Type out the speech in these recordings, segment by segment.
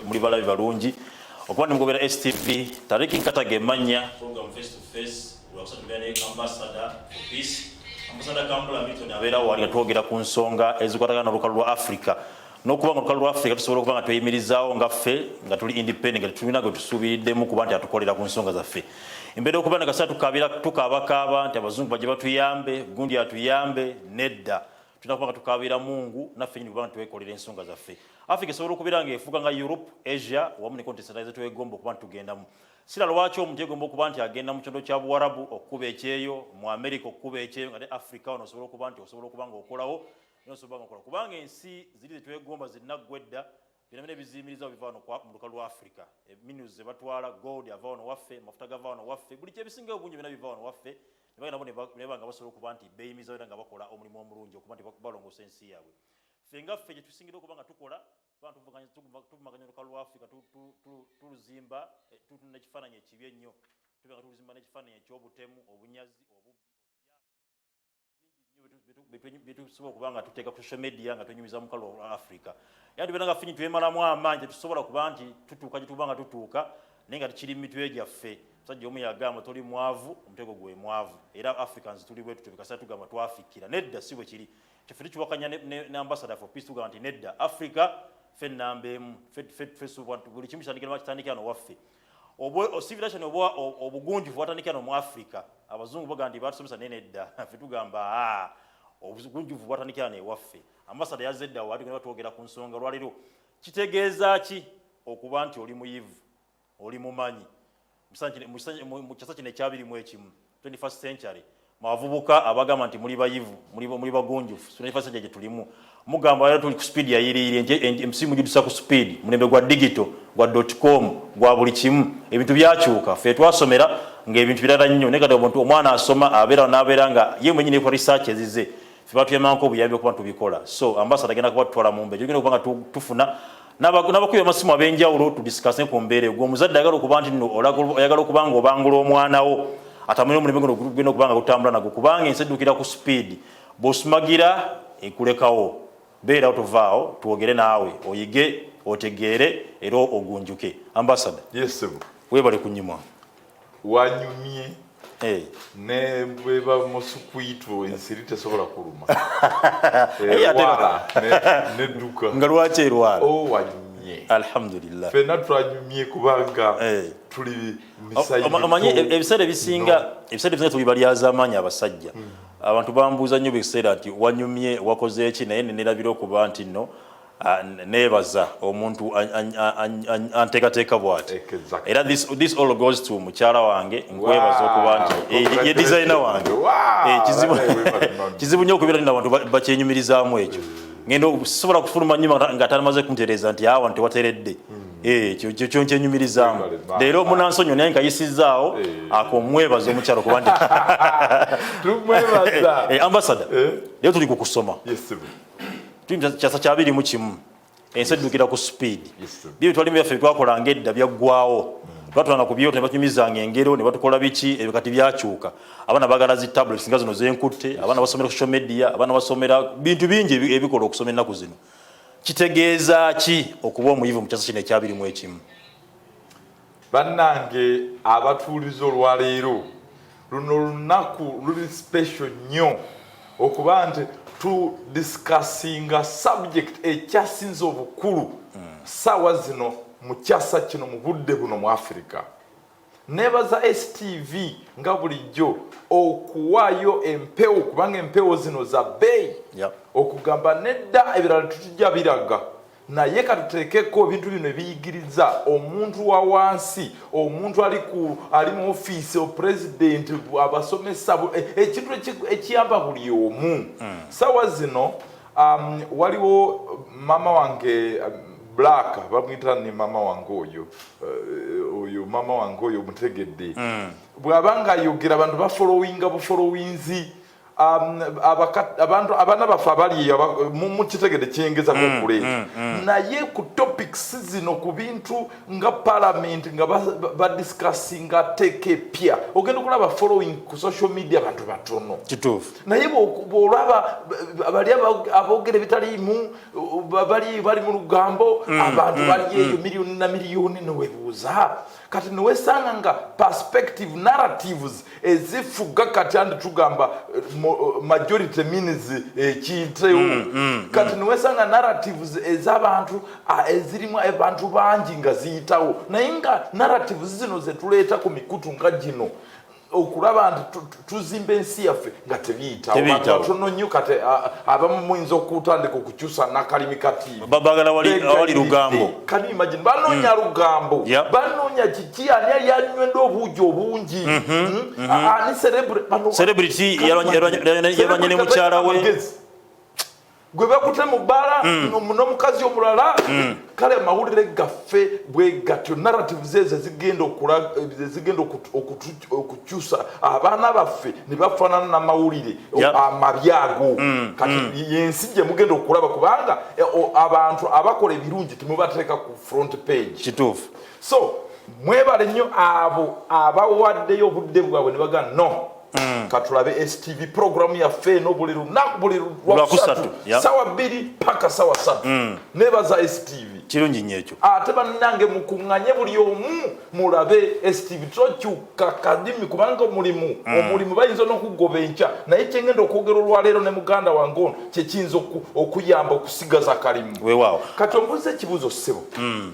muli balabi balungi okuba nemugobera stv tariki nkataga emanya ambasada kambula milton abeera wali nga twogera ku nsonga ezikwatagana nolukalu lwa africa nokuba nga olukalu lwa africa tusobola okuba nga tweyimirizaawo nga ffe nga tuli independent nga tetulina gwe tusuubiriddemu kuba nti atukolera ku nsonga zaffe embeera okuba nagasa tukabakaaba nti abazungu bajja batuyambe gundi atuyambe nedda tulina kuba nga tukaabira mungu naffe nyini kubanga twekolera ensonga zaffe africa esobola okubeera nga efuuka nga europe asia wamu ne kontinenti endala zetwegomba okuba nitugendamu sira lwaki omuntu yegomba okuba nti agenda mu kyondo kya buwarabu okukuba ekyeyo mu america okukuba ekyeyo nga ne africa wano osobola okuba nti osobola okuba nga okolawo nosobola nga okola kubanga ensi ziri zetwegomba zinaggwa edda byonabina ebiziyimirizao biva wano mu luka lwa africa e, minis zebatwala gold ava wano waffe amafuta gava wano waffe buli kyebisingayo bungi byona biva wano waffe ne bagenda bo ne banga basobola okuba nti beeyimizawo era nga bakola omulimu omulungi okuba nti balongoosa ensi yaabwe ffe nga ffe kye tusingira okuba nga tukola kubanga tuvumaganya olukalu lwa afrika tuluzimba eh, tutuna ekifaananyi ekibi ennyo tubeera nga tuluzimba n'ekifaananyi eky'obutemu obunyazi obubbi obulyabingi byetusobola okuba nga tuteeka ku social media nga tunyumiza mukalo olwa africa era tubeera nga finyi twemalamu amaanyi tetusobola kuba nti tutuuka gyetuba nga tutuuka naye nga tukiri mu mitwe gyaffe musajja omu yagamba toli mwavu omutego gwe mwavu era africans tuli bwe tutyo bikasera tugamba twafikira nedda si bwe kiri kyeffe tukiwakanya ne ambasada for peace tugamba nti nedda africa ffe nnamba emu buli kimu kitandikira bakitandikira nowaffe civilization oba obugunjufu watandikira no mu africa abazungu bagamba nti batusomesa naye nedda ffe tugamba ah, obugunjufu bwatandikira newaffe ambasada yazze eddawo ati genda twogera ku nsonga lwaliro kitegeeza ki okuba nti oli muyivu oli mumanyi mu kyasa kino ekyabiri mu ekimu 21st century mwavubuka abagamba nti muli bayivu muli bagunjufu sunafasajja gye tulimu mugamba era tuli ku speed yayiriire emsimu gidusa ku speed mulembe gwa digito gwa dotcom gwa buli kimu ebintu byakyuka fe twasomera ngaebintu birala nnyo naye kati omuntu omwana asoma abeera nabeera nga ye mwenyini ekwa research ezize fe batuyamanko obuyambi okuba tubikola so ambasada agenda kuba tutwala mumbe gyogenda okuba nga tufuna n'abakubi amasimu ab'enjawulo tudisikase ku mbeera egwo omuzadde ayagala okuba nti no oyagala okuba nga obangula omwana wo atamanya omulimu guno gugenda okuba nga gutambula nago kubanga ensi eddukira ku sipiidi bw'osumagira ekulekawo beerawo tovaawo twogere naawe oyige otegeere era ogunjuke ambasada webale kunyimwa wanyumye eh. ne bwe bamusukwitu ensiri tesobola kuluma nedduka nga lwaki erwala oh, wanyumye alhamdulillah fena twanyumye kubanga eh. tuli misaomanyi e- ebiseera ebisinga ebiseera ebisinga tubibalyaza amaanyi abasajja hmm. abantu bambuuza nnyo biseera nti wanyumye wakoze eki naye nenerabira okuba nti no Ah, nebaza omuntu anteekateeka bwati era this all goes to mukyala wange nkwebaza okuba nti eh, ye designer wange eh, kizibu nyo okubeera nina bantu bakyenyumirizaamu ekyo mm. ngenda sobola kufuluma nyuma nga atamaze kuntereeza nti awa nti wateredde mm. Eh, kyokyo nkyenyumirizaamu leero munansonyo naye nkayisizaawo eh. akomwebaza omukyalo kuba ndi eh, ambasada leero tuli ku kusoma kyasa kyabiri mu kimu ensi eddukira ku sipiidi byo bitwalimu byaffe twakolanga edda byaggwawo mm. twatulanga ku byoto ne batunyumizanga engero ne batukola biki ebyo kati byakyuka abaana bagala zi tablets nga zino zenkutte abaana basomera social media abaana basomera bintu bingi ebikola okusoma ennaku zino kitegeeza ki okuba omuyivu mu kyasa kino ekyabiri mu ekimu Bannange abatuulize olwaleero luno lunaku luli special nnyo okuba nti tu discussinga subject ekyasinze obukulu saawa zino mu kyasa kino mu budde buno mu afirika nebaza stv nga bulijjo okuwaayo empewo kubanga empewo zino za bbeeyi okugamba nedda ebirala tutujja biraga naye katuteekeko ebintu bino ebiyigiriza omuntu wa wansi omuntu ali ku ali mu ofiisi opulezidenti abasomesa e, ekintu ekiyamba buli omu hmm. sawa zino um, waliwo mama wange um, black bamwita ni mama wange oyo uh, oyo mama wange oyo omutegedde hmm. bwaba nga ayogera abantu bafolowinga bufolowinzi Um, abantu abaana baffe abali mukitegede kyengezako mm, okule mm, mm. naye ku topics zino ku bintu nga palamenti nga badiscussinga ateeka epya ogenda okulaba following ku social media abantu batono kituufu naye bwolaba bali aboogera ebitaliimu bali mu lugambo abantu bali eyo miliyoni na miliyoni newebuuza kati newesanga nga perspective narratives ezifuga kati andi tugamba eh, eh, majority means ekintewo eh, mm, mm, mm, kati newesanga narratives ezabantu ah, ezirimu abantu bangi nga ziyitawo naye nga narratives zino zetuleeta ku mikutu nga gino okulaba nti tuzimba ensi yaffe nga tebiyitawobatono nnyo kati abamu muyinza okutandika okukyusa nakalimi katiibagalaawali lugambo kani imagine banoonya hmm. lugambo banoonya kiki ani yali anywenda obuugi obungi mhm. hmm? Mhm. ani celebrity yalwanye ne mukyala we gwe bakute mu bbaala mm. n'omukazi omulala mm. kale amawulire gaffe bwe gatyo narratives ezo zigenda okukyusa abaana baffe ne bafaanana n'amawulire amabi ago mm, kati yensi gye mugenda okulaba kubanga eh, abantu abakola ebirungi temubateeka ku front page kituufu so mwebale nnyo abo abawaddeyo obudde bwabwe ne bagana no mm. katulabe stv program yaffe eno buli lunaku buli lwakusatu yeah. sawa bbiri paka sawa satu mm. nebaza stv kirungi nyo ekyo ate banange mukunganye buli omu mulabe stv tokyuka kadimi kubanga omulimu mm. omulimu bayinza nokugoba enkya naye kyengenda okwogera olwaleero ne muganda wange ono kyekiyinza okuyamba okusigaza kalimu wewawo kati ombuza ekibuzo sebo mm.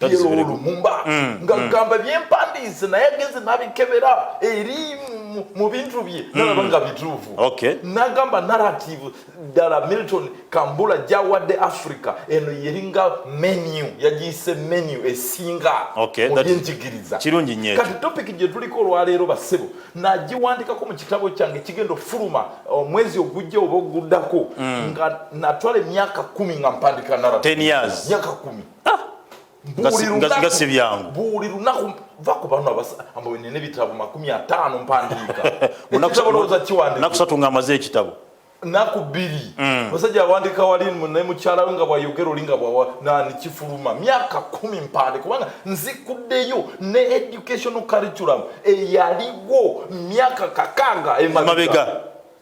lumumba mm, nga mm. gamba byempandiise naye agenze nabikebera eri mu bintu bye mm. nalaba nga bituufu nagamba narrative ddala milton kambula gyawadde africa eno yeringa menu yagiyise menu esinga mubyenjigiriza kati topic gyetuliko olwaleero basebo nagiwandikako mu kitabo kyange kigenda okufuluma omwezi uh, ogujja oba oguddako nga natwala emyaka kumi nga mpandika narrative myaka kumi ah! nga si byangu buli lunaku va ku bano ambo nina ebitabo makumi ataano mpandiika nakusatu nga amaze ekitabo naku bbiri mm. musajja awandika wali naye mukyala we nga bwayogera oli nga bwanani kifuluma myaka kumi mpande kubanga nzikuddeyo ne educational curriculum eyaliwo myaka kakanga emabega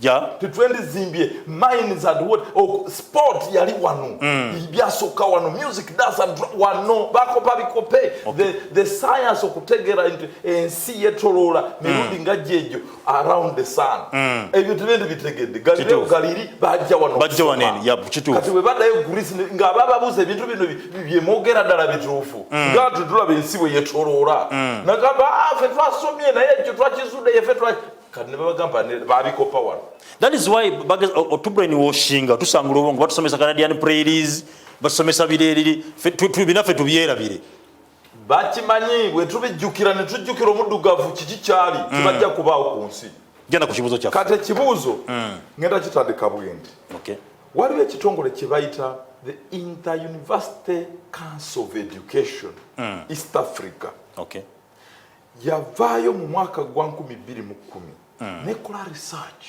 yeah. tetwendizimbye mines and what oh, sport yali wano mm. byasooka wano music dance and wano bakopa bikope okay. the, the science okutegeera nti ensi yetoloola mirundi mm. nga gyejo around the sun mm. ebyo tebendi bitegedde galileo galiri bajja wano bajja wano eni yep, kituufu kati bwe badayo greece nga bababuza ebintu bino byemwogera ddala bituufu mm. nga tutulaba ensi bwe yetoloola mm. nagamba ah, fe twasomye naye ekyo twakizudde yefe kati ne babagamba ne babikopa wano that is why bageza otubrain washing tusangula obongo batusomesa canadian prairies basomesa bireriri binaffe tubyerabire bakimanyi bwe tubijjukira ne tujjukira omuddugavu kiki kyali mm. tebajja kubaawo ku nsi genda ku kibuuzo kyaffe kati ekibuuzo mm. ngenda kitandika bwendi waliwo ekitongole kye bayita the interuniversity council of education mm. east africa okay. yavaayo mu mwaka gwa nkumi bbiri mu kkumi mm. nekola research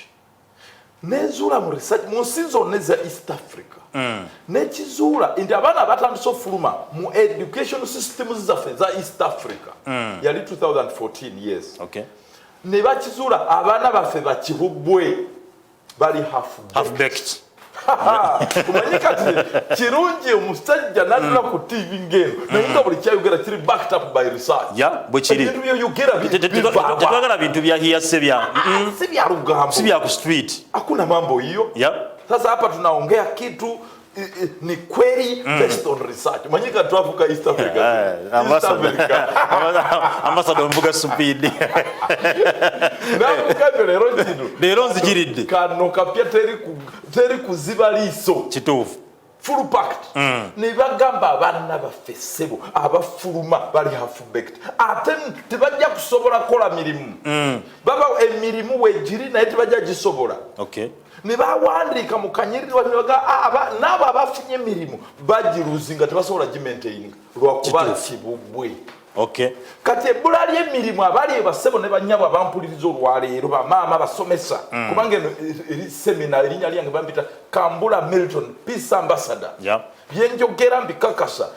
nezuula mu research mu nsi zonna eza east africa mm. nekizuula nti abaana batandise ofuluma mu education systems zaffe eza east africa mm. yali 2014 yes okay. nebakizuula abaana baffe bakibubwe bali half baked kumanyi kati kirungi omusajja natula ku tv ngeno naye nga buli kyayogera kiri backed up by research bwekiribintu byoyogeratwagala bintu bya hiyase bya si byalugambo si bya ku street hakuna mambo hiyo sasa hapa tunaongea kitu ni kweli mm. based on research manyika twavuka East Africa eh, eh, ambassador ambassador mvuga supidi namukabe lero kino lero nzijiridde kano kapya teri ku teri kuziba liso kituufu full packed mm. ne bagamba abaana baffe ssebo abafuluma bali half baked ate tebajja kusobola kukola mirimu mm. baba emirimu wegiri naye tebajja gisobola okay. ne bawandiika mu kanyirirwa nebaga ah, naabo abafunye emirimu bagiruzi nga tebasobola gimentaininga lwakuba kibubwe kati ebbula ly'emirimu abali ebasebo ne banyabo abampuliriza olwaleero bamaama basomesa mm. kubanga eno eri semina erinnya lyange bampita kambula milton peace ambassador byenjogera mbikakasa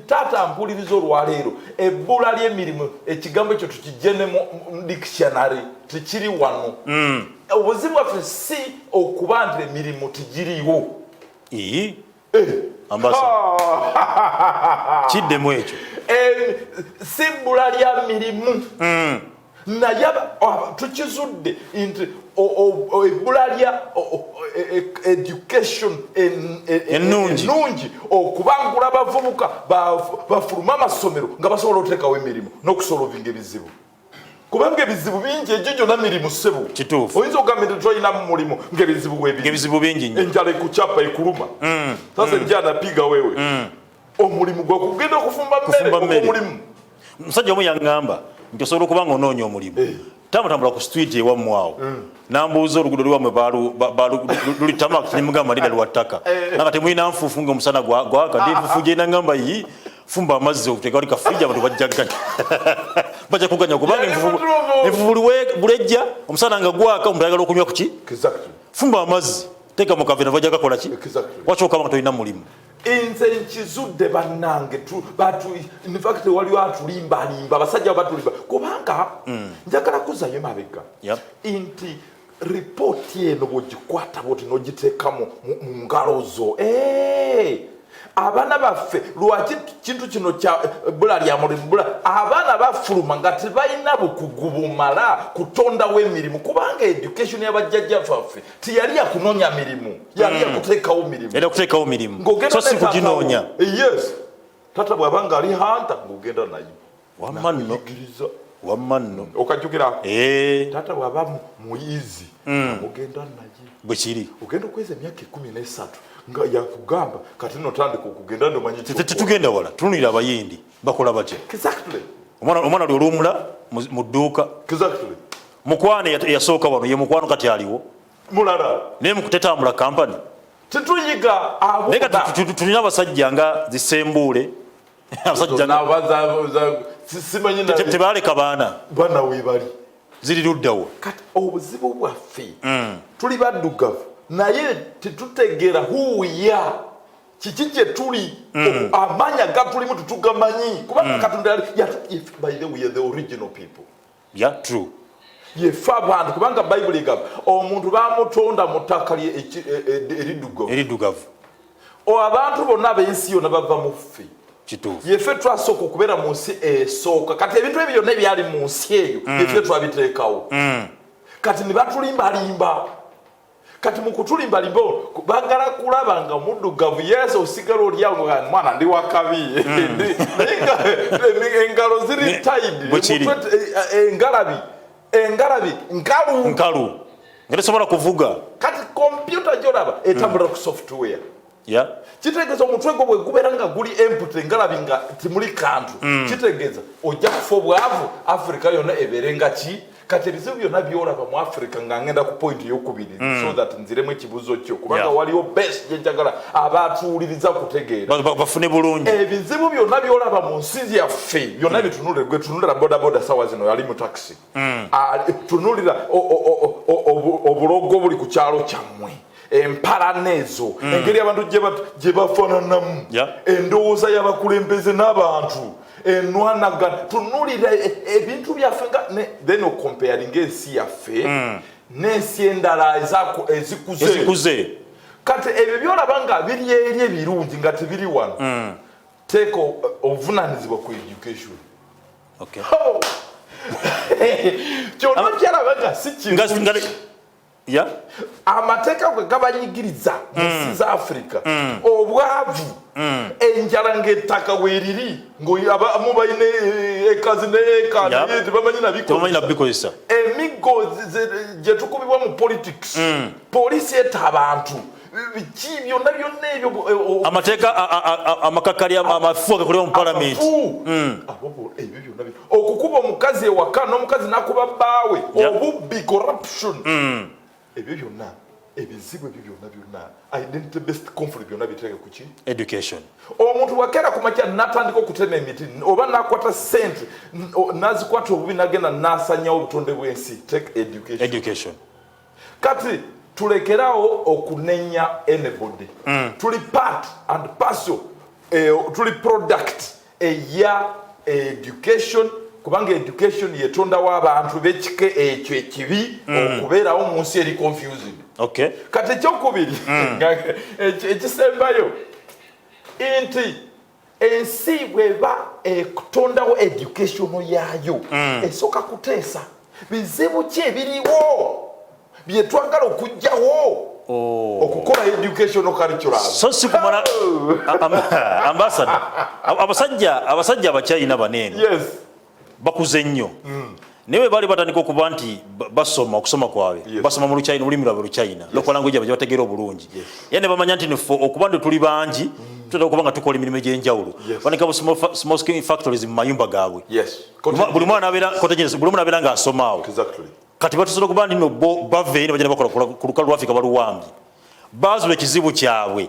taata mpuliriza olwaleero ebbula lyemirimu ekigambo ekyo tukijje ne mu dictionary tekiri wano mm. obuzibu bwaffe si okuba nti emirimu tigiriwo eh. kiddemu ekyo si bbula lya mirimu mm. naye tukizudde nti ebbula lya e, e, education e, ennungi okubangula abavubuka bafulume amasomero nga basobola otekawo emirimu n'okusolovinga ebizibu kubanga ebizibu bingi egyo gyona mirimu ssebo kituufu oyinza okugamba nti tolina mu mulimu ngaebizibu webizibu bingi enjala ekukyapa ekuluma mm. sasa mm. njanapiga wewe mm. omulimu gwe kugenda okufumba mmere omulimu musajja omu yaŋŋamba nti osobola okuba nga onoonya omulimu eh. tamutambula ku street ewammwe awo mm. nambuuza olugudo lwammwe luli tamak nimugamba ndida lwa ttaka eh. nanga temulina nfuufu nga omusana gwaka ndi nfuufu gyenda ŋŋamba yi fumba amazzi okutekali kafriji abantu bajjaganya bajja kuganya kubanga enfuufu bulejja omusana nga gwaka omuntu ayagala okunywa kuki fumba amazzi teeka mu kavera bajja kakola ki wakyoka banga tolina mulimu nze nkizudde bannange infact waliwo atulimbalimba abasajja batulimba kubanga mm. njagala kuzayo emabega nti ripooti eno bwogikwata bwoti nogiteekamu mu ngalo zo eh! abaana baffe lwaki kintu kino kya eh, bula lya mulimu bula abaana bafuluma nga tebalina bukugu bumala kutondawo emirimu kubanga education yabajjajja faffe tiyali yakunonya mirimu yali hmm. yakutekawo mirimu era kutekawo mirimu so si kuginonya eh, yes tata bwaba nga ali hanta ngogenda naye wamma nno wamma nno hmm. okajjukira eh. tata bwaba muyizi hmm. ogenda naye bwekiri ogenda okweza emyaka ekumi nesatu nga yakugamba kati notandika okugenda ndomanyi tetugenda wala tunulira abayindi bakola batya exactly omwana omwana lwolumula mu dduuka exactly mukwano yasooka wano ye mukwano kati aliwo mulala naye mukutetambula kampani tetuyiga abo naye kati tulina abasajja nga zisembuule abasajja tebaleka baana bana webali ziri luddawo kati obuzibu bwaffe mm. tuli baddugavu naye tetutegeera huwiya kiki gye tuli mm. amaanyi agatulimu tetugamanyi kubanga mm. katonda by the way the original people ya true yefe abantu kubanga bayibuli egamba omuntu bamutonda mu ttaka e, e, eriddugavu abantu bonna ab'ensi yona bava mu ffe yefe twasooka okubeera mu nsi esooka kati ebintu ebyo byonna ebyali mu nsi eyo mm. yefe twabiteekawo kati ne batulimbalimba kati mukutulimbalimba bagala kulaba nga omuddugavu yesu osigala olyawo mwana ndi wakabi hmm. naye engalo ziri taidi engalabi engalabi nkalu nkalu nga tesobola kuvuga kati kompyuta gyolaba etambula ku software yeah. kitegeeza omutwe gwo bwegubeera nga guli empute ngalabi nga timuli kantu mm. kitegeeza ojja kufa obwavu africa yonna ebeere nga ki kati ebizibu byonna byolaba mu africa nga ngenda ku point eyokubiri mm. so that nziremu ekibuzo kyo kubanga yeah. waliwo best gyenjagala abatuwuliriza kutegeera bafune bulungi ebizibu byonna byolaba mu nsi yaffe byonna mm. bitunule gwetunulira bodaboda sawa zino yali mu taxi mm. ah, tunulira obulogo obuli ku kyalo kyammwe empalana ezo mm. engeri abantu gye bafananamu endowooza y'abakulembeze n'abantu enwanagana tunulira e, e, ebintu byaffe nga then okomparinga ensi yaffe mm. n'ensi endala ezikuze kati ebyo byolaba nga biri eri ebirungi nga tebiri wano mm. teeka obuvunanyizibwa ku education Okay. Oh. Kyono kyala baga sichi. Ngas ngale. Ya. Amateka kwe kabanyigiriza mu mm. South Africa. Mm. Obwavu. Mm. Enjala ngetaka weriri ngo aba mubayine eh, ekazi ne eka yeah. ne bamanyi na biko. Bamanyi na biko isa. Emigo je tukubibwa mu politics. Mm. Police eta abantu. biki byonna byonna ebyo eh, amateeka amakakali amafu agakolera mu palamenti hmm. okukuba omukazi ewaka n'omukazi nakuba bbaawe obubbi corruption hmm. ebyo byonna ebizibu ebyo byonna byonna identity based conflict byonna bitereke ku ki education omuntu wakeera ku makya natandika okutema emiti oba nakwata sente nazikwata obubi nagenda nasanyawo obutonde bw'ensi take education, education. kati tulekerawo okunenya anybody mm. tuli part and parcel eh, tuli product eya education kubanga education yetondawo abantu bekika ekyo ekibi mm. okubeerawo mu nsi eri confusing okay. kati ekyokubiri mm. ekisembayo nti ensi bweba ekutondawo educationo yaayo mm. esooka kuteesa bizibu ki ebiriwo byetwagala okugjawo oh. okukola educationo curriculum so si kumala oh. ambasada abasajja abasajja abakyayina baneeno yes. bakuze nnyo hmm. naye bali batandika okuba nti basoma okusoma kwabwe basoma mu lukyina olulimi lwabwe lukyina local language yabwe gyebategeera obulungi era ne bamanya nti nfe okuba nti tuli bangi hmm. tutera okuba nga tukola emirimu egy'enjawulo banika bu small skin factories mu mayumba gaabwe buli mwana abeera nga asomaawo kati batusobola okuba nti no bo bava eri ne bagenda bakola ku lukalu lwafrika baluwambye baazula ekizibu kyabwe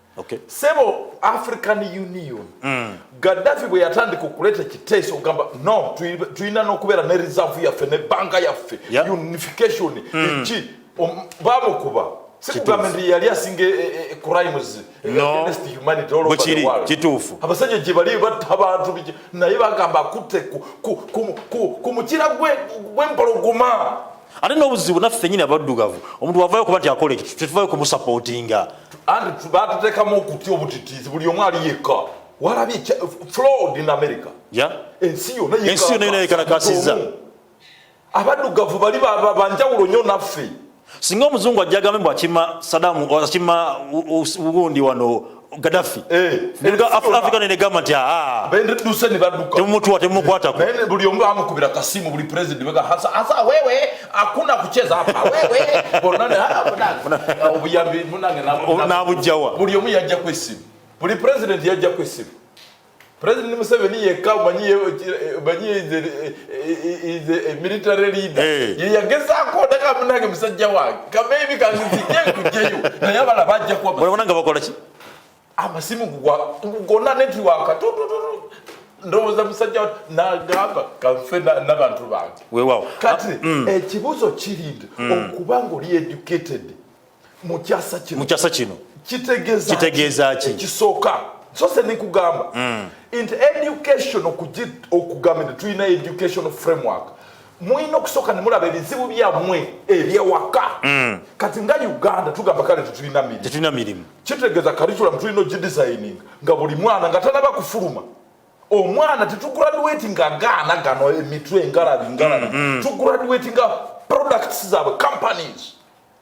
Okay. Sebo African Union mm. Gaddafi bwe yatandika okuleta kiteeso ogamba no tulina n'okubeera ne reserve yaffe ne banka yaffe yep. unification mm. eki bamukuba sikugamba nti yali asinga eh, eh, eh, crimes against humanity all over the world kituufu abasajja gye bali batta abantu naye bagamba akutte ku mukira gw'empologoma ate n'obuzibu naffe fenyini abaddugavu omuntu wavayo okuba nti akola ekyo tetuvayo kumusapootinga anti batutekamu okutya obutitiizi buli omu ali yekka walabye fraud in america ensi yona yona yekalakasiza abaddugavu bali banjawulo nyo naffe singa omuzungu ajja agambe mbu akima sadamu akima gundi wano Gaddafi eh, nibwo Africa ne gamba nti aa benduse ne baduka temumutwa temukwatako naye buli omu amukubira kasimu buli president bega hasa hasa wewe hakuna kucheza hapa wewe bonana hapa obuyambi munange na bujjawa buli omu yajja kwesimu buli president yajja kwesimu President Museveni yekka omanyi is a military leader eh. ye yagezaako ndaka munange musajja wange kabeebi kanzizijje nkujjeyo naye abala bajja kuwa olabona nga bakola ki amasimu gugona netiwaka ndowooza musajja nagamba kanfe nabantu bange wewawo kati ah, mm. ekibuuzo kiri nti mm. okuba nga oli educated mu kyasa kino mu kyasa kino kitegeeza kitegeeza ki ekisooka so se nikugamba mm. nti education okugamba nti tulina education framework mulina okusooka ne mulaba ebizibu byammwe ebyewaka mm. kati nga uganda tugamba kale tetulina mirimu tetulina mirimu kitegeeza curriculum tulina ogidesigning nga buli mwana nga tanaba kufuluma omwana tetugraduati nga gaana gano emitwe engalabi ngalabi mm, mm. tugraduati nga products zaabwe companies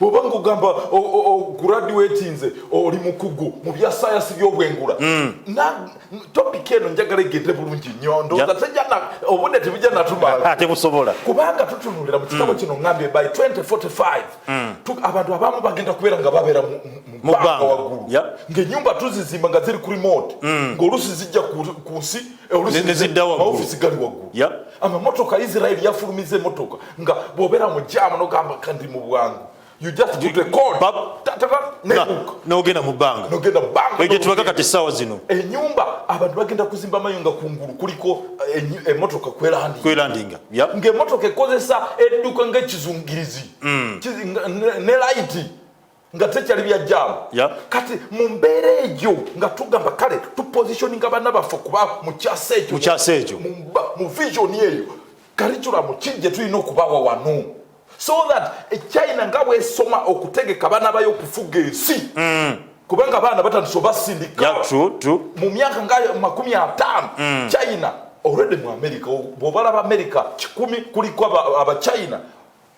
bwoba ngugamba oguraduatinze oli mukugu mu bya sayansi byobwengula hmm. topika eno njagala egende bulungi nnyo ndowooza obudde tebujja natumala tebusobola kubanga tutunulira mu kitabo hmm. kino ngambye by 2045 hmm. abantu abamu bagenda kubeera nga babeera mubbanga waggulu ngaenyumba tuzizimba nga ziri ku remote ngaolusi zijja ku nsi eh, olusi neziddawaggulu amamotoka israeli yafulumiza emotoka nga bwobera mu jaamu nogamba kandi mu bwangu you just put a code nogenda mu bbanga nogenda bbanga ejo tubaga kati sawa zino enyumba abantu bagenda kuzimba mayo nga kungulu kuliko emotoka eh, eh, kwelandinga kwelandinga yep. nga emotoka ekozesa edduka nga ekizungirizi mm. ne light nga tekyali bya jaamu kati mu mbeera egyo nga tugamba kale tupositioninga bana baffe kuba mu kyasa ekyo mu vision eyo kariculamu ki gye tulina okubawa wano so that echina eh, nga bwesoma okutegeka bana bayo okufuga ensi mm. kubanga abaana batandise obasindika mu myaka nga makumi ataano mm. china already mu america bwobalaba america kikumi kuliko abachina aba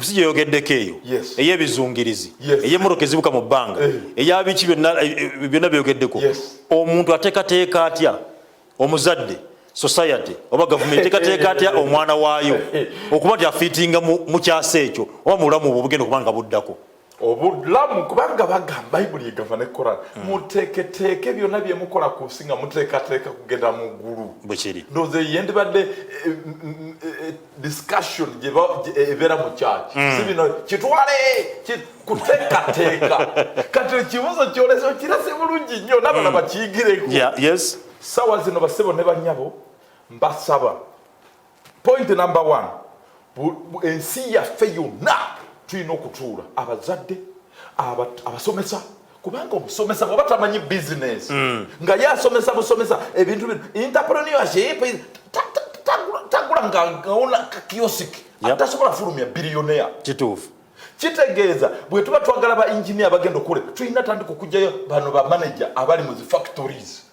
si gyeyogeddeko eyo ey'ebizungirizi ey'emmotoka ezibuka mu bbanga eh. eyabiki byonna eh, byogeddeko omuntu atekateeka atya omuzadde society oba gavumenti tekateeka atya omwana waayo okuba nti afiitinga mu kyasa ekyo oba mu bulamu obwo bugenda okuba nga buddako obulamu kubanga bagamba bayibuli egamba ne koran mm. muteeketeeke byonna bye mukola ku nsi nga muteekateeka kugenda mu ggulu bwekiri ndowooza eyo yendibadde eh, eh, eh, discussion ebeera mu kyaki mm. si bino kitwale kuteekateeka kati ekibuuzo kyolesa okirase bulungi nnyo nabana mm. bakiyigireko sawa zino basebo ne banyabo mbasaba point number one ensi yaffe yonna tulina okutuula abazadde abasomesa kubanga omusomesa bwaba tamanyi bizinesi hmm. nga ye asomesa busomesa ebintu bino interpreneurship tagula ngaona kiosik atasobola fulumya biliyonea kituufu kitegeeza bwe tuba twagala ba engineer bagenda okule tulina tandika okugyayo bano ba manager abali mu zi factories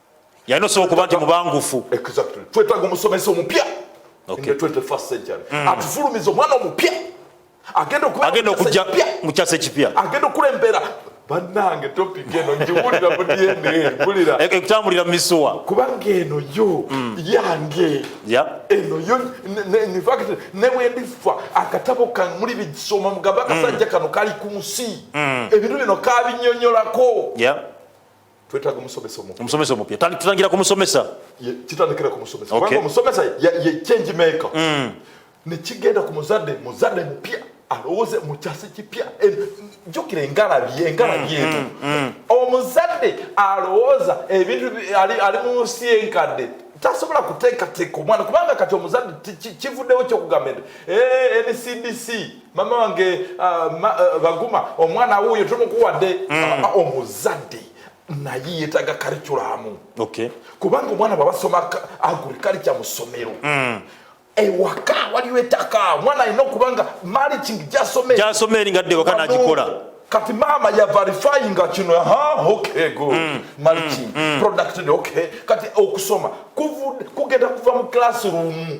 yalina osobola okuba nti mubangufu exactly twetaaga omusomesa omupya okay. in the 21st century mm. atufulumiza omwana omupya agenda okugenda okujja mu kyasa ekipya agenda okulembera banange topic eno ngiwulira mu dna bulira e, ekutambulira mu misuwa kubanga eno yo mm. yange eno yo infact nebwendifa akatabo kamuli bigisoma mugamba akasajja mm. kano kali ku nsi mm. ebintu bino kabinyonyolako twetaaga omusomesa omupya omusomesa omupya tutangira ku musomesa kitandikira ku musomesa kubanga omusomesa ye change maker mm. ne kigenda ku muzadde muzadde mupya alowooze mu kyasa kipya jjukira engalabi engalabi mm, eno mm, mm. omuzadde alowooza ebintu ali mu nsi enkadde tasobola kuteekateeka omwana kubanga kati omuzadde kivuddewo kyokugamba nti eh, ncdc mama wange uh, ma, uh, baguma omwana wuuyo tumukuwadde mm. uh, omuzadde naye yetaga kariculamu okay. kubanga omwana bwabasoma agurikalica mu ssomero mm. ewaka waliwo ettaka omwana alina okuba nga mariching gyasoma eri ngadde waka nagikola kati maama yavarifyinga kino ha okay good mm, mariching mm, mm. producted okay kati okusoma kugenda kuva mu classroom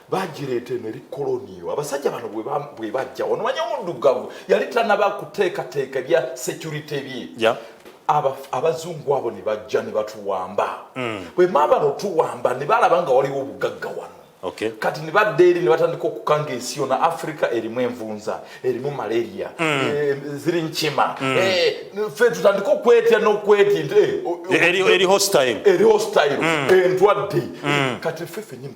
bagireeta eno eri koloniyo abasajja bano bwe bajja wano manya omuddugavu yali tanaba kuteekateeka ebya security bye abazungu abo ne bajja ne batuwamba mm. bwe maaba notuwamba ne balaba nga waliwo obugagga wano kati ne badda eri ne batandika okukanga ensi yona africa erimu envunza erimu malaria mm. eh, ziri nkima mm. eh, fe tutandika okwetya nokwetya eri hostile entwadde kati fe fenyini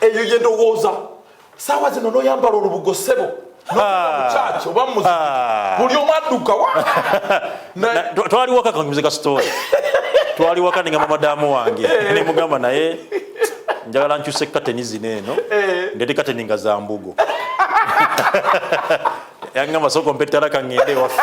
eyo ye ndowooza saawa zino noyambala olubugo sebo mukyaki oba muzi buli omu adduka wa twaliwaka kanguze ka story twaliwaka ninga madamu wange eh. nemugamba naye njagala nkyuse kateni zino eno eh. ndete kateni nga za mbugo yangamba soko mpetala kangende waffe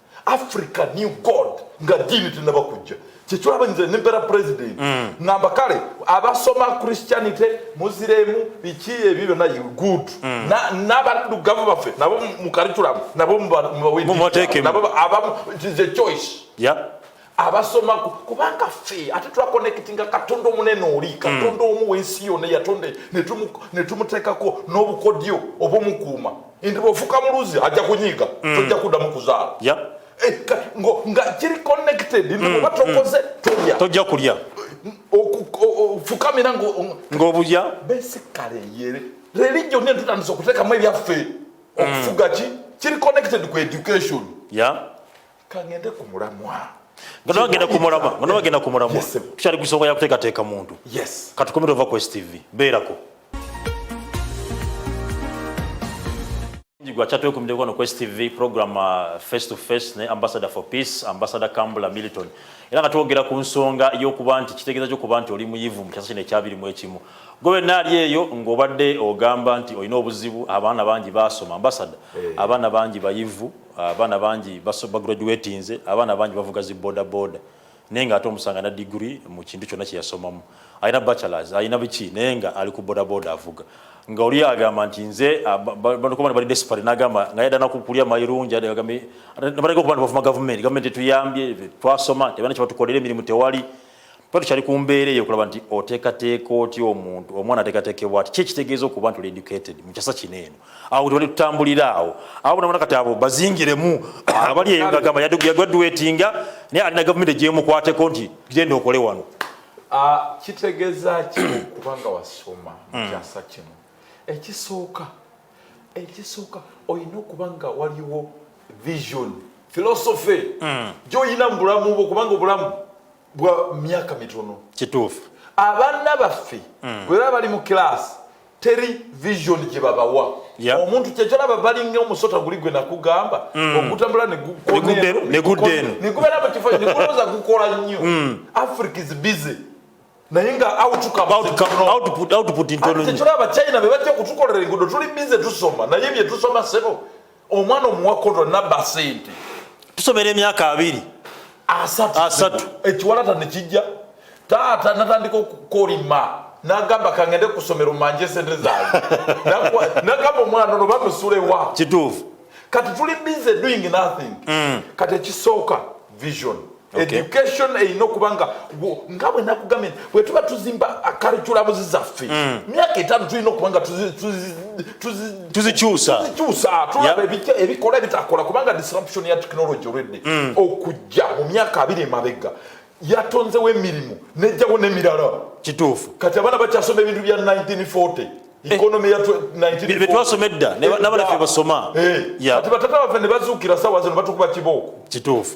africa new god nga diini tenaba kujja kyekyolaba nze nempera president mm. ngamba kale abasoma christianity muziremu biki ebyo byonna good mm. nabaddugavu baffe nabo mukariculamu nabo mubaweabamu choice abasoma kubanga ffe ate twakonekitinga katonda omunene oli katonda hmm. omu wensi yona yatonda netumutekako n'obukodyo obumukuuma nti bwofuka muluzi ajja kunyiiga hmm. tojja kuddamu kuzaala eh, nga kiri connected nti oba hmm. tokoze tolya tojja kulya ofukamira ng'obulya besikale yere religion netutandisa okutekamu ebyaffe okufuga ki kiri connected ku education yeah. kangende ku mulamwa nga nawe agenda ku mulamwa nga nawe agenda ku mulamwa tukyali ku nsonga ya kuteekateeka muntu katukomere ova ku stv beerako Jigwa chatwe kumde kono Quest TV program uh, face to face ne ambassador for peace ambassador Kambula Milton era katwogera ku nsonga y'okuba nti kitegeeza ky'okuba nti oli muyivu mu kyasa kino ekyabiri mu ekimu gwe naali eyo ng'obadde ogamba nti olina obuzibu abaana bangi baasoma ambasada hey. Eh. abaana bangi bayivu abaana bangi bagraduatinze abaana bangi bavuga zi boda boda naye nga ate omusanga na digiri mu kintu kyonna kyeyasomamu alina bachelors alina biki naye nga ali ku boda boda avuga nga oli agamba nti nze banokuba bali desperate nagamba nga yadana kukulya mayirungi agambe nabaleka okuba nti bavuma gavumenti gavumenti etuyambye twasoma tebana kyebatukolera emirimu tewali Tuba tukyali ku mbeera eyo okulaba nti oteekateeka otya omuntu omwana ateekateekebwa ati kyekitegeeza okuba nti oli educated mu kyasa kino eno awo tewali tutambulira awo awo bonabona kati abo bazingiremu abali eyo gagamba yagraduatinga naye alina gavumenti egyemukwateko nti genda okole wano ah, kitegeeza ki okuba nga wasoma mu hmm. kyasa kino ekisooka ekisooka olina okuba nga waliwo vision philosophy mm. gyoyina mu bulamu bwo kubanga obulamu bwa myaka mitono kituufu abaana baffe mm. bwe baba bali mu kilaasi teri vision gye babawa yeah. omuntu kyekyolaba balinga omusota guli gwe nakugamba mm. ogutambula neguddeeno negubeera mu kifo nekulooza gukola nnyo mm. africa is busy naye nga outcomekitulaba china bebajja kutukolera engudo tuli bize tusoma naye byetusoma sebo omwana omuwa kodo naba sente tusomera emyaka abiri asatu ekiwalata nekijja taata natandika okukolima nagamba kangende kusomero manje sente zange nagamba omwana ono bamusulewa kituufu kati tuli bize doing nothing mm. kati ekisooka vision education erina okuba nga nga bwe nakugambye bwe tuba tuzimba akariculamuzi zaffe mm. myaka etaano tulina okuba nga tuzikyusa tulaba ebikola ebitakola kubanga disruption ya technology olwedde mm. okujja mu myaka abiri emabega yatonzewo emirimu nejjawo nemirala kituufu kati abaana bakyasoma ebintu bya 1940 Eh, betwasoma edda nabana fe basoma eh, ati batata baffe ne bazuukira sawa zino batukuba kibooko kituufu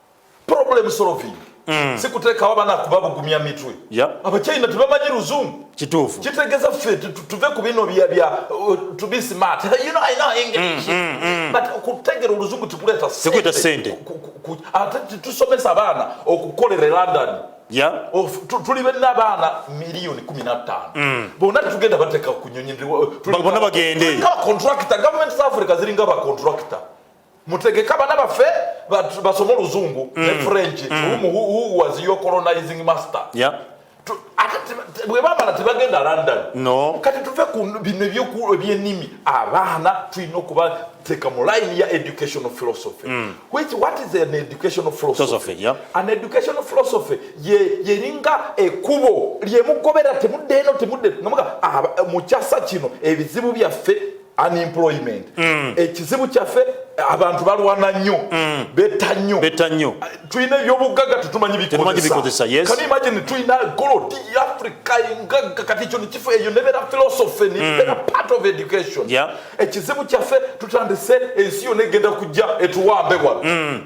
problem solving mm. sikutekawo abana kubabugumya mitwe yep. abachina tebamanyi luzungu kituufu kitegeza ffe tuve ku bino bya bya uh, to be smart you know i know english mm, mm, mm. but kutegera oluzungu tikuleta sikuita sente ate tusomesa abaana okukolera e london yeah. of tuli bena abaana miliyoni kumi na ttaano mm. bona tugenda bateka ku nyonyi bona bagende contractor government za africa ziringa ba contractor mutegeke abana baffe basome oluzungu ne mm. french mm. who was your colonizing master bwebamala tebagenda london no. kati tuve ku bino ebyenimi abaana tulina okubateeka mu line ya educational philosophy mm. which what is an educational philosophy yeah. an educational philosophy yeringa ye ekubo lyemugobera temudde eno temudde nomuga ah, mukyasa kino ebizibu byaffe unemployment mm. ekizibu kyaffe abantu balwana nnyo mm. betta nnyo betta nnyo tulina ebyobugagga tetumanyi bikozesa yes. kani imagine tulina golodi africa engagga kati ekyo nekifo eyo nebeera philosophy mm. nebeera mm. part of education yeah. ekizibu kyaffe tutandise ensi yona egenda kujja etuwambe wano mm.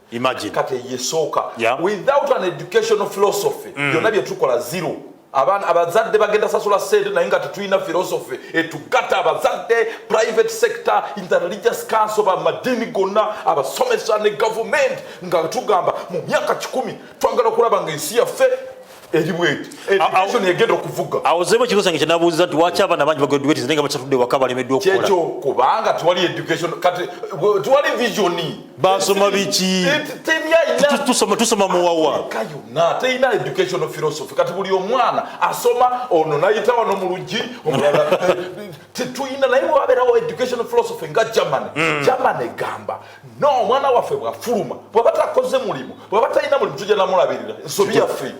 imagine kati yesooka yeah. without an educational philosophy mm. byonna byetukola zero abaana abazadde bagenda sasula sente naye nga tetulina philosophy etugata abazadde private sector in the religious council bamadini gonna abasomesa ne government nga tugamba mu myaka kikumi twagala okulaba nga ensi yaffe awozeemu ekibuzo kyange kyenabuuziza nti waki abaana bangi bagraduates naye nga bakyatudde waka balemeddwa okukolakyo kubanga tewali education kati tewali vision basoma biki tusoma tusoma muwawa yonna terina education philosophy kati buli omwana asoma ono nayita wano mu luggi omulala tetulina naye wabeerawo education philosophy nga germany hmm. germany egamba no omwana waffe bwafuluma bwaba takoze mulimu bwaba talina mulimu tujja namulabirira ensobi yaffe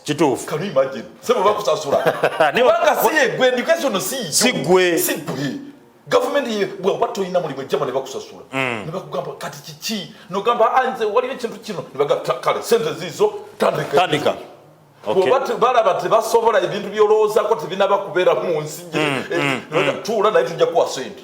kituufu kanu imagine sebo bakusasula kubanga si yegwe education no si si gwe si gwe gavumenti ye bwaba tolina mulimu ejjama ne bakusasula mm. ne bakugamba kati kiki nogamba anze ah, waliyo ekintu kino ne bagamba kale sente ziizo tandika balaba tebasobola ebintu byolowoozako tebinaba kubeera mu nsi mm, mm, tuula naye tujja kuwa sente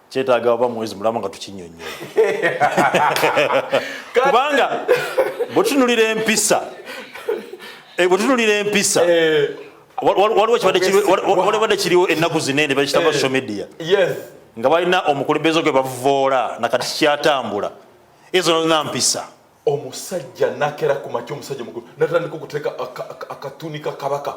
kyetaaga oba mwezi mulamu nga tukinyonyola kubanga bwetunulira empisa eh, bwetunulira empisa eh. waliwo badde kiriwo ennaku zinene bakitaba eh. social media nga balina omukulembeze gwe bavoola nakati kikyatambula ezo nolina mpisa omusajja nakera ku makya omusajja mukulu natandika okuteeka akatuni ka kabaka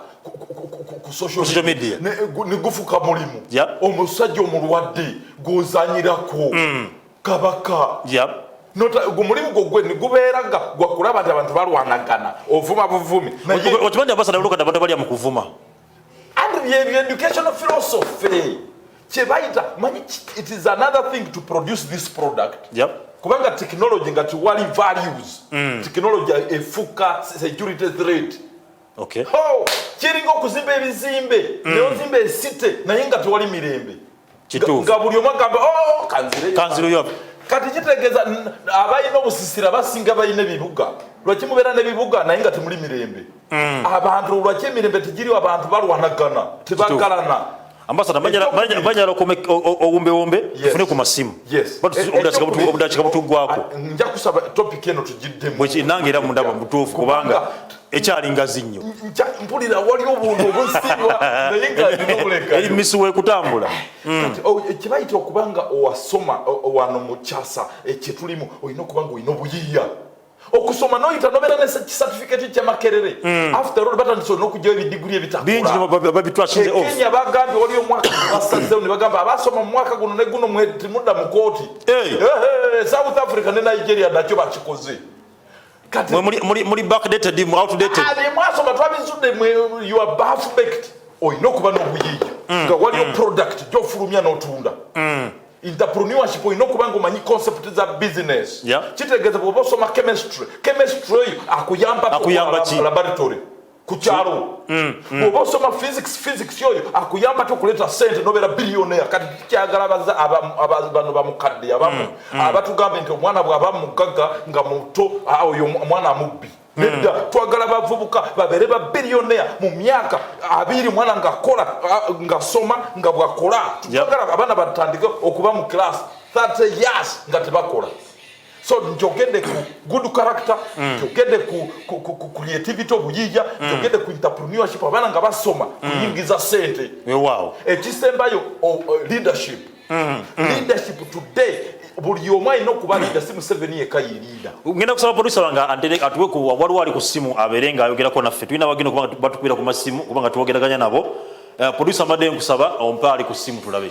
ku social media ne gufuka mulimu omusajja omulwadde gwozanyirako mm. kabaka omulimu gwo gwe nigubeera nga gwakulaba nti abantu balwanagana ovuma buvumi okimanyi abasana lukada abantu balya mu kuvuma and ye educational philosophy kyebayita manyi it is another thing to produce this product yep. kubanga technology nga tiwali values mm. technology efuka security threat okay. oh, kiringa okuzimba ebizimbe mm. neozimba esite naye nga tewali mirembe kituufu nga buli omu agamba oh, kanzireyo kati kitegeeza abalina obusisira basinga balina ebibuga lwaki mubeera nebibuga naye nga temuli mirembe hmm. abantu lwaki emirembe tegiriwo abantu balwanagana tebagalana ambasada banyala owumbewumbe tufune ku masimu obudakika butugwako nja kusaba topic eno tugiddemu nange era mundaba mutuufu kubanga ekyali ngazi nnyo mpulira wali obuntu obusiibwa naye nga alina obuleka eri misi wekutambula mm. oh, eh, kyebayita okuba nga owasoma wano mu kyasa eh, kyetulimu olina okuba nga olina obuyiiya okusoma noyita nobeera ne kisatifiketi kyamakerere mm. after all batandise olina okugyawo ebidiguli ebitakulaekenya bagambye wali omwaka basazeo ne bagamba abasoma mu mwaka guno ne guno mudda mu kooti eh. south africa ne nigeria nakyo bakikoze muli backdated mu outdated mwasoma twabizudde you are bath baked oyina okuba n'obuyiiya mm, nga waliyo mm. product gyofulumya n'otunda mm. entrepreneurship olina okuba nga omanyi concept za business kitegeeza bwoba osoma chemistry chemistry oyo akuyambakolaboratory ku kyalo mm, mm. oba osoma physics physics oyo akuyamba te okuleeta sente nobeera biliyonea kati tukyagala bano bamukadde abamu mm, abatugambe nti omwana bwaba mugagga nga muto oyo omwana mubbi nedda twagala bavubuka babeere babiliyonea mu myaka abiri mwana ngakola ngasoma nga bwakola twagala abaana batandike okuba mu class 30 years nga tebakola so njogedde ku good character mm. njogedde ku, ku, ku, ku creativity obuyija mm. njogedde ku entrepreneurship abaana nga basoma mm. kuyingiza sente wow. ekisembayo oh, oh, leadership mm. Mm. leadership today buli omu alina okuba lida si museveni yeka yelida ngenda kusaba producer wange atuwe ku waliwo ali ku simu abeere nga ayogerako naffe tulina bagenda okuba batukubira ku masimu kuba nga twogeraganya nabo eh, producer mbadde nkusaba ompe ali ku simu tulabe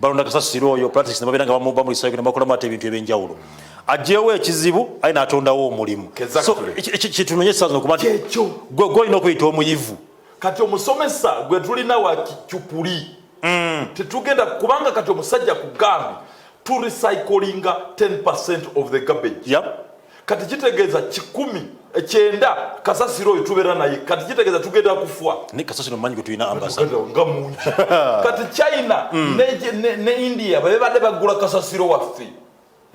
balonda kasasiro oyo practice nebabeera nga bamuba mu isayiko nebakolamu ate ebintu ebyenjawulo ajewo ekizibu aye natondawo omulimu kitunonye esaza okuba nti gwe olina okuyita omuyivu kati omusomesa gwe tulina wa kicupuli mm. tetugenda kubanga kati omusajja kugambi turecyclinga 10 of the garbage yep. kati kitegeeza kikumi ekyenda kasasiro oyo tubeera naye kati kitegeeza tugenda kufa nga mungi kati china mm. ne india bebadde bagula kasasiro waffe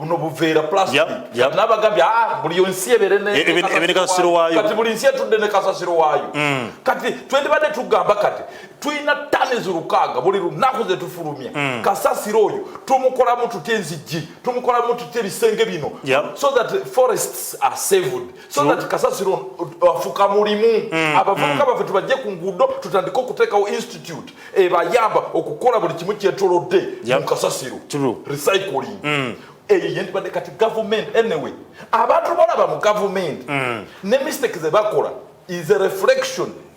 buno buveera plasticnabagambye ah, buli nsi ebeerekati buli nsi etudde ne kasasiro waayo mm. kati twendibadde tugamba kati tulina tani zirukaaga buli lunaku zetufulumya mm. kasasiro oyo tumukolamu tutya enzijji tumukolamu tutya ebisenge bino yep. so that forests are saved so True. that kasasiro afuka mulimu mm. abavubuka mm. baffe tubajje ku nguudo tutandike okuteekawo institute ebayamba okukola buli kimu kyetolodde yep. mu kasasiro True. recycling mm. eyo yentibadde kati gavumenti anyway abantu balaba mu gavumenti mm. ne mistake zebakola is a reflection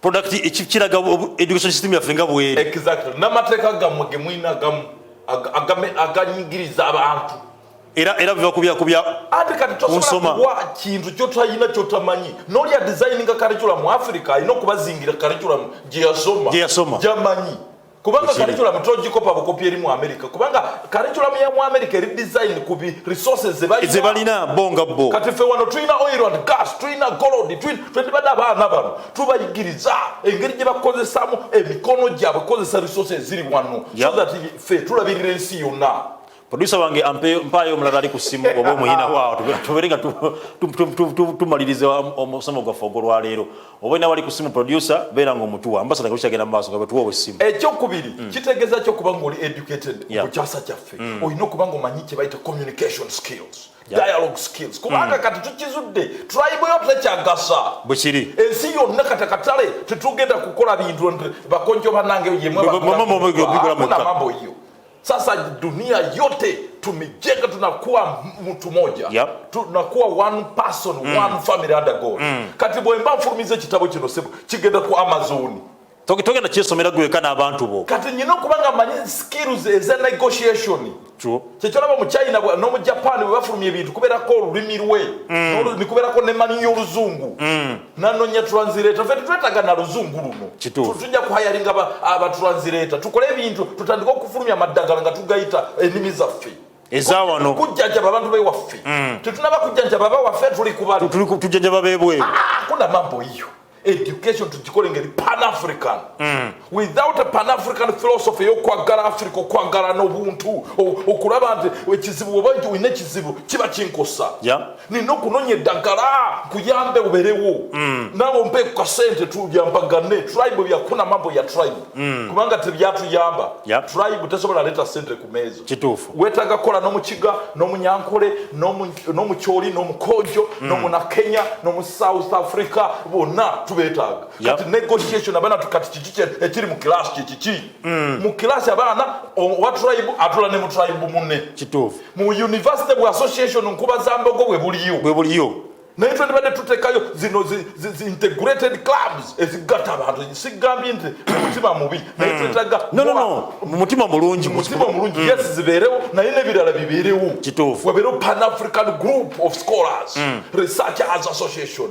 product ekiraga education system yaffe nga bwere exactly n'amateeka gammwe ge mulina gamu aganyigiriza abantu era era biva kubya kubya ate kati tosobola kuwa kintu kyotalina kyotamanyi nolya designinga curriculum mu africa alina okubazingira curriculum gye yasoma gye yasoma gyamanyi kubanga curriculum tojikopa bukopi eri mu america kubanga curriculum ya mu america eri design ku bi resources ze balina bo nga bo kati ffe wano tulina oil and gas tulina gold twendibadde abaana bano tubayigiriza engeri gye bakozesamu emikono gyabwe kukozesa resources ziri wano so that ffe tulabirira ensi yonna Producer wange ampe mpayo omulala ali ku simu oba omuyina waawo tubere nga tumaliriza omusomo gwaffe ogwolwaleero oba ina wali ku simu producer beera nga omutuwa ambasada nga bukyagenda mu maaso nga bwetuwa owessimu ekyokubiri mm. kitegeeza ki okuba nga oli educated ku kyasa kyaffe mm. olina okuba nga omanyi kye bayita communication skills dialogue skills kubanga mm. kati tukizudde tulayibuyo tekyagasa bwekiri ensi yonna kati akatale tetugenda kukola bintu bakonjo banange yemwe Sasa dunia yote tumejenga, tunakuwa mtu moja yep. tunakuwa one person mm. one family under God mm. kati bwemba nfulumiza kitabo kino sebo kigenda ku Amazon togenda kyesomera gweka n'abantu bo kati nyina okuba nga manyi skills eza negotiation kyekyolaba mu china n'omu japan bwe bafulumya ebintu kubeerako olulimi lwe mm. nikubeerako nemanyi y'oluzungu mm. nanonya translator fe tetwetaga na luzungu luno tujja kuhayalinga abatranslator ah, tukole ebintu tutandika okufulumya amaddagala nga tugayita ennimi zaffe ezawano kujjanjaba abantu bewaffe mm. tetunaba kujjanjaba abawaffe tuli kubali tujjanjaba bebweru ah, ah, kuna mambo iyo education tugikole ngeri pan african mm. without a pan-african philosophy eyokwaggala africa okwaggala n'obuntu okulaba nti ekizibu oba nti olina ekizibu kiba kinkosa nina okunonya eddagala nkuyambe oberewo mm. naawe ompe ku kasente tuyampagane tribe byakuna mambo ya tribe mm. kubanga tebyatuyamba tribe tesobola leeta sente ku meeza kituufu wetaaga kukola n'omukiga n'omunyankole n'omukyoli n'omukojo mm. n'omunakenya n'omusouth africa bonna tubetaaga yep. kati negotiation abana tukati kiki ekiri mu class kiki ki mm. mu class abana wa tribe atula ne mu tribe munne kitufu mu university bu association nkuba za mbogo bwe buliyo bwe buliyo naye twandibadde tutekayo zino zi, zi, zi integrated clubs ezigata abantu sigambye nti mutima mubi naye mm. twetaga no, no, no. mutima mulungi mutima mulungi mm. yes zibeerewo naye nebirala bibeerewo kitufu wabeerewo pan african group of scholars mm. researchers association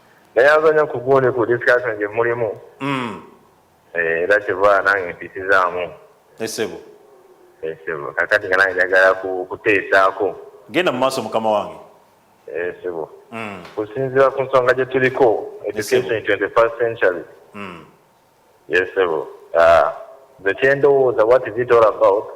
neyanza nyo kugundi ku discussion gye mulimu mm. eh, era kyeva nange mpisizaamu esebo eh, esebo eh, kakati nga nange njagala kuteesaako genda mu maaso mukama wange esebo mm. kusinziira ku nsonga gye tuliko education in 21st century mm. yesebo ah, nze kyendowooza what is it all about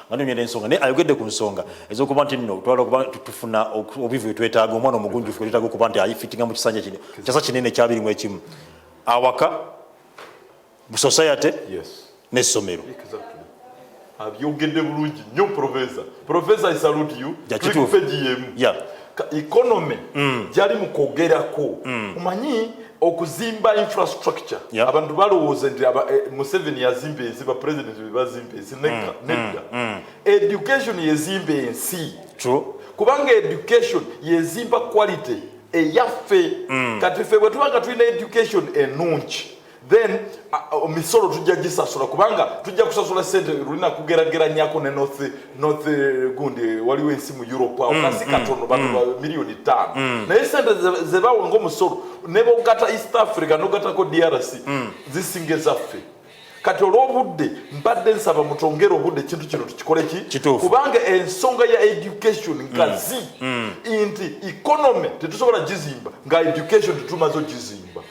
anonyera ensonga naye ayogedde ku nsonga ezokuba nti nno twala okuba tufuna obubivu bwetwetaaga omwana omugunjufu bwetwetaaga okuba nti ayifitinga mu kisanja kino kyasa kinene ekyabirimu ekimu awaka mu society n'essomero abyogedde bulungi nnyo profesa profesa i salute you click page yemu economy mm. jali mukogerako mm. umanyi okuzimba infrastructure yep. abantu balowooza nti eh, museveni yazimba ensi ba president bebazimba ensi mm, mm, nedda mm, mm. education yezimba ensi True. kubanga education yezimba quality eyaffe mm. kati ffe bwe tubanga tulina education enungi then uh, misolo tujja gisasula kubanga tujja kusasula sente lulina kugerageranyako ne north north eh, gundi waliwo ensi mu europe awo mm, kasi mm, katono batu mm. miliyoni tano mm. naye sente zebawa ngaomusolo nebogata east africa nogatako drc mm. zisinga ezaffe kati olwobudde mbadde nsaba mutongere obudde ekintu kino tukikole ki kubanga ensonga ya education ngazi mm. mm. nti economy tetusobola gizimba nga education tetumaze ogizimba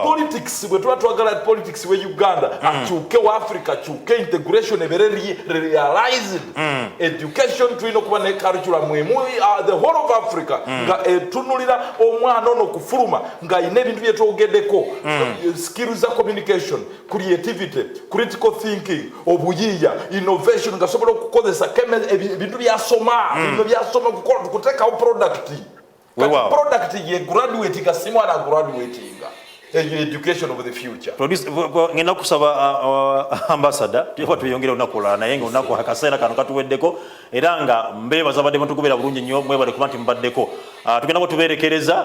politics bwe tuba twagala politics we uganda mm. akyuke wa africa akyuke integration ebere realized mm. education tulina okuba ne curriculum emu uh, the whole of africa mm. nga etunulira omwana ono okufuluma ng'alina ebintu bye twogedeko skills za communication creativity critical thinking obuyiiya innovation nga sobola okukozesa ebintu byasoma bino byasoma kuteekawo product wewawo product ye graduate ka si mwana graduatinga eyo education of the future produce ngenda kusaba uh, uh, ambassador tuba tuyongera olunaku olala naye nga olunaku akaseera kano katuweddeko era nga mbeebaza badde mutugobeera bulungi nnyo mwebale kuba nti mubaddeko uh, tugenda kuba tubeerekereza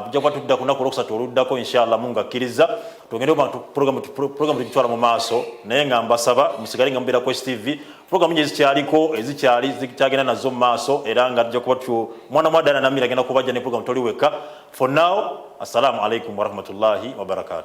tujja kuba tudda ku lunaku olwokusatu oluddako inshallah mungu akkiriza tugende programu tugitwala mu maaso naye nga mbasaba musigale nga mubeera ku stv Programu nyingi zikyaliko ezikyali eh, zikyagenda nazo mu maaso era nga tujja kuba tu mwana mwa Diana Namira agenda kubajja ne programu toli wekka. For now, assalamu alaikum warahmatullahi wabarakatuh.